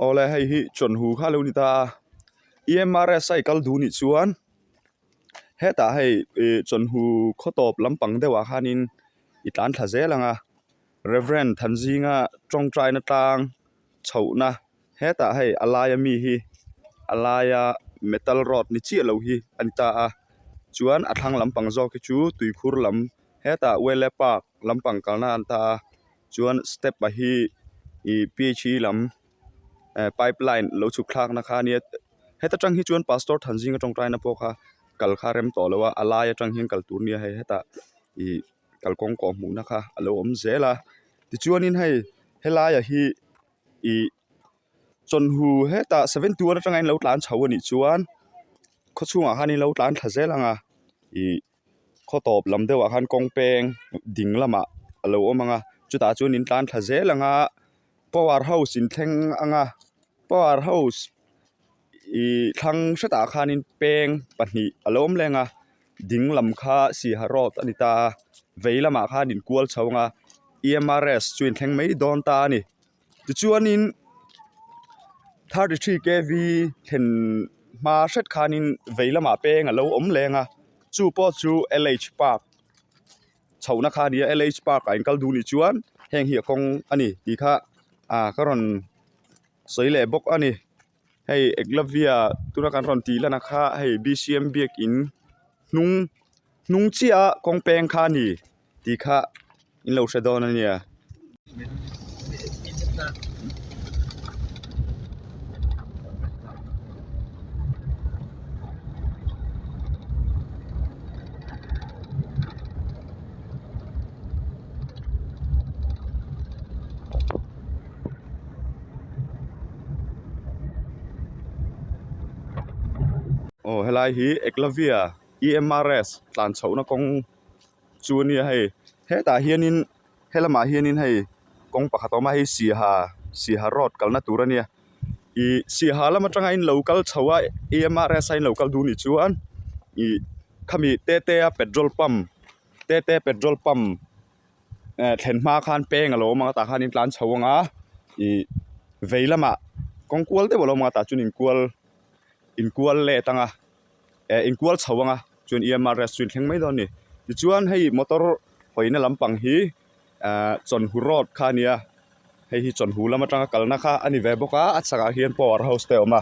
Awle hei hi chawn hu kha lo ni ta a i em a rest a i kal duh nih chuan hetah hei ih chawn hu khaw tawp lampang deuh ah khan in i tlan thla zel ang a reverend thanzinga tawngtai na tlang chhoh na hetah hei a laia mi hi a laia metal rod ni chiah lo hi a ni ta a chuan a thlang lampang zawk hi chu tuikhur lam hetah wele park lampang kalna a ni ta a. chuan step a hi ih phd lam eh pipeline lo chhuk thlakna kha a nia heta tang hi chuan pastor Thanzing a tawngtaina pawh kha kal kha a rem tawh loh a a lai atang hian kal tur nia hei hetah ih kalkawng kawh hmuhna kha a lo awm zel a tichuanin hei helaiah hi ih chawlhu hetah seven two atanga in lo tlan chho a nih chuan khawchhungah khan in lo tlan thla zel ang a ih-- khaw tawp lam deuh ah khan kawng peng ding lam ah a lo awm ang a chutah chuan in tlan thla zel ang a power house in thleng ang a power house ihh thlang hre tah khan in peng pahnih a lo awm leh ang a ding lam kha siaha road a ni ta vei lamah khan in kual chho ang a E_M_R_S chu in thleng mai dawn ta a ni. tichuanin thirty three K V thlen hma hret khanin vei lamah peng a lo awm leng a chu pawh chu L H park chho na kha a nia L H park ah in kal duh nih chuan heng hi a kawng a ni tih kha ka rawn sawi leh bawk a ni. hei Eklavia tuna kan rawn tih lana kha hei B_C_M biakin hnung hnung chiaha kawng peng kha a ni tih kha in lo hre dawn a nia. aw helai hi eklavia emrs tlan chhohna kawng chu a nia hei hetah hianin helamah hianin hei kawng pakhat a awm a hei siaha siaha road kalna tur a nia ih siaha lam atanga in lo kal chho a emrs a in lo kal duh ni chuan ih khami tete a petrol pump tete petrol pump . eh thlen hma khan peng a lo awm a tah khan in tlan chho ang a ih vei lamah kawng kual deuh a lo awm a tah chuan in kual in kual let ang a eh in kual chho ang a chuan em rk chu inthleng mai dawn a ni tichuan hei motor hawihna lampang hi eh Chawnhu road kha a nia hei hi Chawnhu lam atanga kalna kha a ni ve bawk a a chhakah hian power house te a awm a.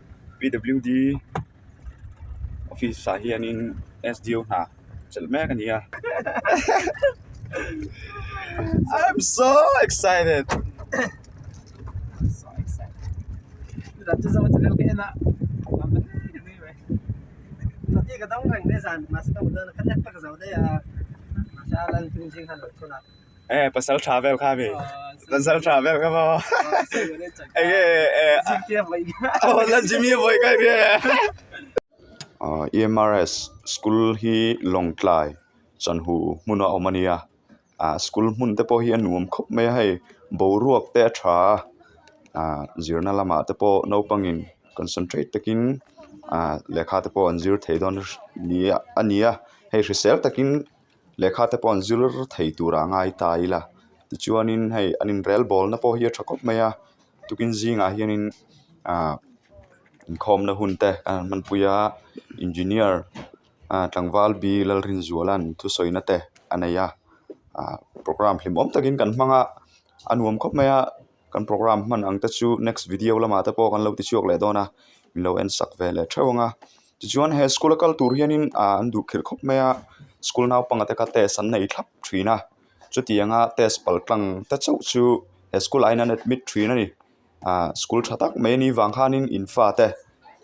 PWD office ah hianin sdo hna chelh mek a ni a I'm so excited eh pasal tha vel kha mi pasal tha vel kha maw eh oh la jimmy a vawi kai mi e EMRS school hi lawngtlai chanhu hmuna awm a nia ah school hmun te pawh hi a nuam khawp mai a hei boruak te a tha a ah zirna lamah te pawh naupangin concentrate takin ah lehkha te pawh an zir thei dawn a nia hei hrisel takin. lehkha te pawh an zir thei tura a ngai ta ila tichuanin hei an inrel bawlna pawh hi a tha khawp mai a tukin zingah hianin ah inkhawmna hun te a han hmanpui a engineer a tlangval bi lalrinzuala an thusawiina te a nei a ah programme hlimawm takin kan hmang a a nuam khawp mai a. Kan programme hman ang te chu next video lamah te pawh kan lo ti chhuak leh dawn a min lo en sak ve leh theuh ang a tichuan he school a kal tur hian in ah an duh khelh khawp mai a school naupang te kha test an nei thlap thin a chuti ang a test pal tlang te chauh chu he school ah hian an admit thin a ni ah school tha tak mai a ni vang khan in infa te--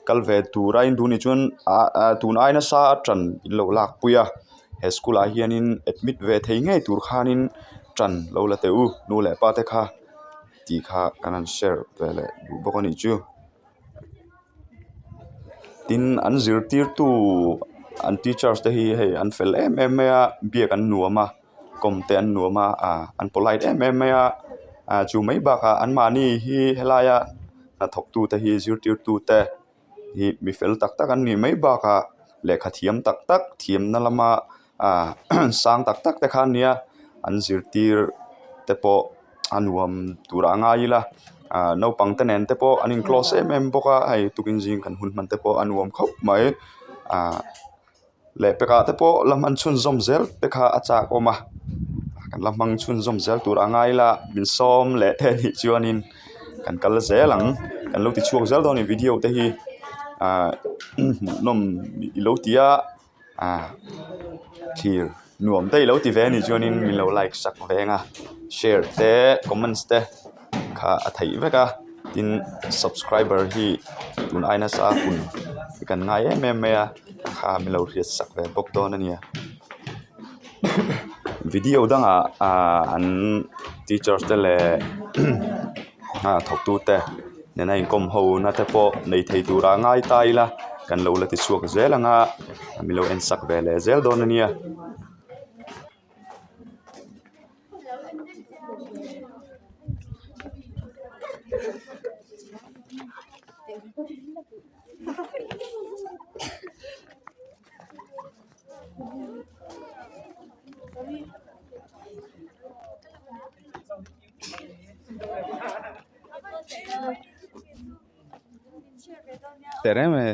kal ve tur a indu nih chuan ah ah tun ai nasa a tan in lo lakpui a he school ah hianin admit ve thei ngei tur khanin tan lo la teh u nu leh pa te kha ti kha kan han share ve leh duh bawk a nih chu tin an zirtirtu an teachers te hi hei an fel em em mai a biak an nuam a. kawmte an nuam a ah an polite em em mai a ah chu mai bakah an mahni hi helaia hnathawk tute hi zirtirtu te hi mi fel tak tak an nih mai bakah lehkha thiam tak tak thiamna lama ah sang tak tak te khan nia an zirtir te pawh a nuam turah a ngai ila ah naupangte nen te pawh an in close em em bawk a hei tuikin zing kan hun hman te pawh a nuam khawp mai ah-- leh pekah te pawh la hman chhunzawm zel te kha a chak awm a kan la hman chhunzawm zel tur a ngai la min sawm leh te a nih chuanin kan kal zel ang kan lo ti chhuak zel dawn a ni video te hi ahh hmuh nawm i lo ti a ahh thlir nuam te i lo ti ve a nih chuan min lo like sak veng a share te comments te. kha a theih vek a tin subscriber hi tun aina sa kun i kan ngai em em mai a kha mi lo hriat sak ve bawk dawn a nia video dang ah ahh an teacher te leh thawk tu te nena inkawm ho na te pawh nei thei tur ah ngai ta ila kan lo la ti chhuak zel ang a mi lo en sak ve leh zel dawn a nia. Teh reng mai.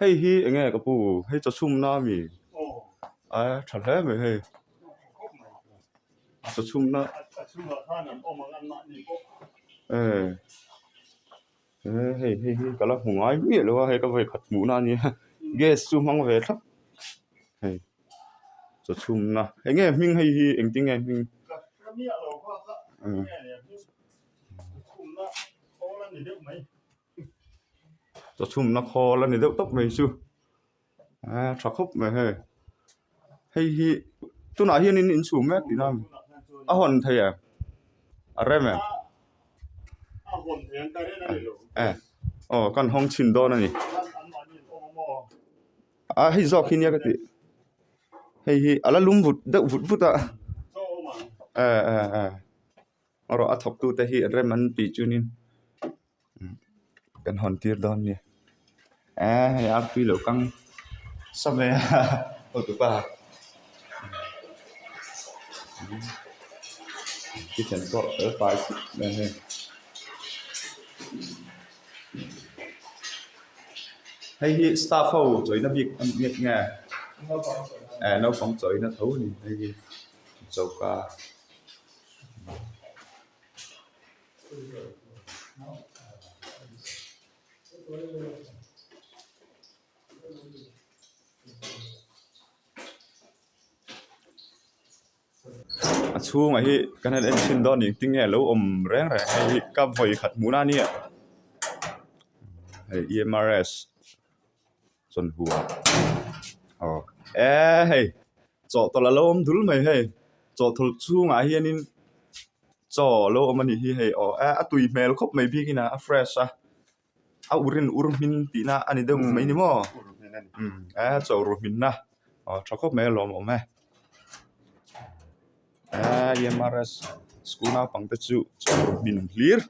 hei hi eng nge ka pu hei chawchhum na a mi a tha hle mai hei chawchhum na hei hi ka la hmu ngai miah lo a hei ka vawi khat hmuh na a nia gas chu hmang ve thlap hei chawchhum na eng nge hming hei hi eng tinge hming -- Chaw chhumna khawl a ni deuh tawp mai chu eee tha khawp mai hei hei hi tunah hian in inchhung mek tihna a ni a hawn theih a a rem em eh aw kan hawng chhin dawn a ni a hei zawk hi nia ka tih hei hi a la lum vut deuh vut vut a eh eh eh maw rawh a thawk tute hi rem an tih chunin. kan hawn tir dawn a ni eee hei a arpui loh kang sa mai a hotu pa kitchen pawh fel fai sak mai a ni. Hei hi staff ho chawina bik a ni nghet nge eee naupang chawina tho a ni hei hi choka. a chhungah hi ka han enthin dawn a ni tinge a lo awm reng reng mai hi ka vawi khat hmuh nani ah hei E_M_R_S . chuan hu a aw eee hei chaw tawlh a lo awm dul mai hei chaw tawlh chhungah hian in chaw a lo awm a nih hi hei aw eee a tui hmel khawp mai bik in a fresh a a ur in ur hming tih na a ni deuh mai ni maw eee chaw ru hminna aw tha khawp mai a lo awm e. Ahh mrs school naupang te chu chawlh hlim hlir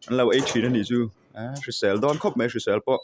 an lo ei thin a nih chu ahh hrisel dawn khawp mai hrisel pawh.